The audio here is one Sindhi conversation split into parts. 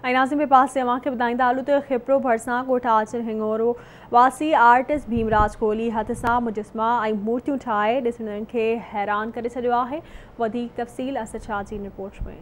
۽ ناظم عباس جي اوهان کي ٻڌائيندا هلون ته کپرو ڀرسان ڳوٺ آچر هڱورو واسي آرٽسٽ ڀيمراج ڪولهي هٿ سان مجسما ۽ مورتيون ٺاهي ڏسندڙن کي حيران ڪري ڇڏيو آهي وڌيڪ تفصيل اسد شاهه جي ان رپورٽ ۾.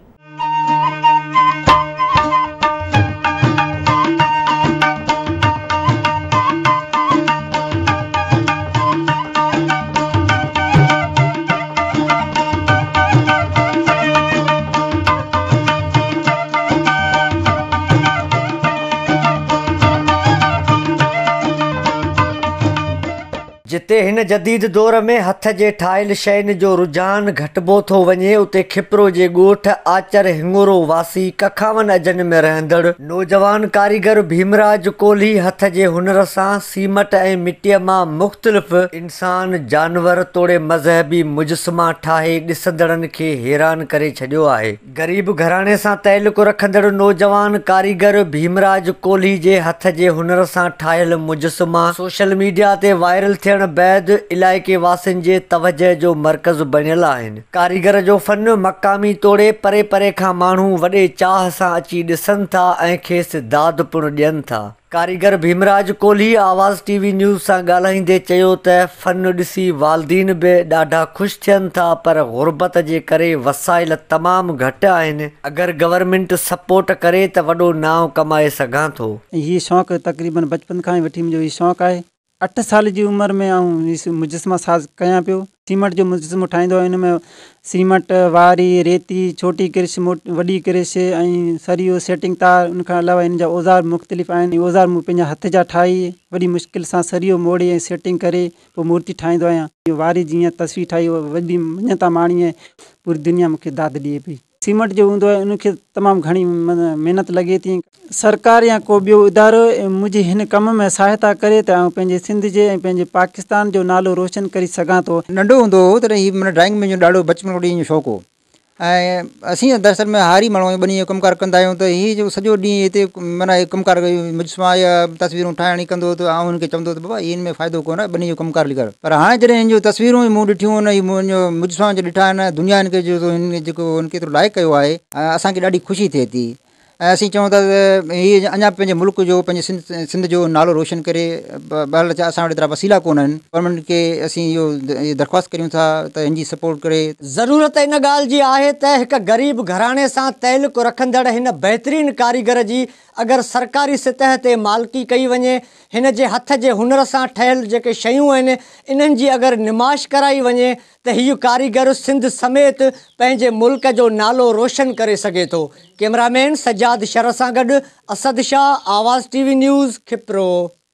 جتي هن جديد دور ۾ هٿ جي ٺاهيل شين جو رجحان گهٽبو ٿو وڃي اتي کپرو جي ڳوٺ آچر هڱورو واسي ڪکاون اجن ۾ رهندڙ نوجوان ڪاريگر ڀيمراج ڪولهي هٿ جي هنر سان سيمٽ ۽ مٽيء مان مختلف انسان، جانور توڙي مذهبي مجسما ٺاهي ڏسندڙن کي حيران ڪري ڇڏيو آهي. غريب گهراڻي سان تعلق رکندڙ نوجوان ڪاريگر ڀيمراج ڪولهي جي هٿ جي هنر سان ٺاهيل مجسما سوشل ميڊيا تي وائرل ٿيڻ بعد علائقي واسين جي توجهه جو مرڪز بڻيل آهن. ڪاريگر جو فن مقامي توڙي پري پري کان ماڻهو وڏي چاهه سان اچي ڏسن ٿا ۽ کيس داد پڻ ڏين ٿا. ڪاريگر ڀيمراج ڪولهي آواز ٽي وي نيوز سان ڳالهائيندي چيو ته فن ڏسي والدين به ڏاڍا خوش ٿين ٿا پر غربت جي ڪري وسائل تمام گهٽ آهن اگر گورنمينٽ سپورٽ ڪري ته وڏو نانء ڪمائي سگهان ٿو. ۽ هي شوق تقريبن بچپن کان ئي وٺي منهنجو هي شوق آهي. اٺ سال جي عمر ۾ آئون مجسما ساز ڪيان پيو. سيمنٽ جو مجسمو ٺاهيندو هيم. ان ۾ سيمنٽ، واري، ريتي، ڇوٽي ڪرش، وڏي ڪرش ۽ سريو، سيٽنگ تار، ان کان علاوه هن جا اوزار مختلف آهن. اهي اوزار مون پنهنجا هٿ جا ٺاهي وڏي مشڪل سان سريو موڙي ۽ سيٽنگ ڪري پوء مورتي ٺاهيندو آهيان. واري جي هيئن تصوير ٺاهي وڏي مڃتا ماڻي ۽ پوري دنيا مون کي داد ڏئي پئي. سيمنٽ جو هوندو آهي ان کي تمام گهڻي محنت لڳي ٿي. سرڪار يا ڪو ٻيو ادارو منهنجي هن ڪم ۾ سهائتا ڪري ته آئون پنهنجي سنڌ جي ۽ پنهنجي پاڪستان جو نالو روشن ڪري سگهان ٿو. ننڍو هوندو هو تڏهن هي مون ڊرائنگ منهنجو ڏاڍو بچپن کان وٺي ان جو شوق هو ۽ اسين دراصل ۾ هاري ماڻهو آهيون ٻني جو ڪم ڪار ڪندا آهيون ته هي جو سڄو ڏينهن هتي معنيٰ هي ڪم ڪار مجسما يا تصويرون ٺاهڻ ڪندو هو ته آئون هن کي چوندو هو ته بابا هي ان ۾ فائدو ڪونه ٻني جو ڪم ڪار لڳ. پر هاڻي جڏهن هن جون تصويرون ئي مون ڏٺيون ان هي منهن جو مجھ سان جو ڏٺا آهن دنيا هن کي جو تو هن جيڪو هن ڪيترو لائق ڪيو آهي اسان کي ڏاڍي خوشي ٿئي ٿي ۽ اسين چون ٿا ته هي اڃا به پنهنجي ملڪ جو پنهنجي سنڌ سنڌ جو نالو روشن ڪري بهرحال اچا اسان وٽ ايترا وسيلا ڪون آهن پر انهن کي اسين اهو اهي درخواست ڪريون ٿا ته هن جي سپورٽ ڪري ضرورت ان ڳالهه جي آهي ته هڪ غريب گهراڻي سان تعلق رکندڙ هن بهترين ڪاريگر جي اگر سرڪاري سطح تي مالڪي ڪئي وڃي، هن جي هٿ جي هنر سان ٺهيل جيڪي شيون آهن، انهن جي اگر نمائش ڪرائي وڃي ته هيء ڪاريگر سنڌ سميت پنهنجي ملڪ جو نالو روشن ڪري سگهي ٿو. ڪيمرا مين سجاد شر سان گڏ اسد شاهه، آواز ٽي وي نيوز، کپرو.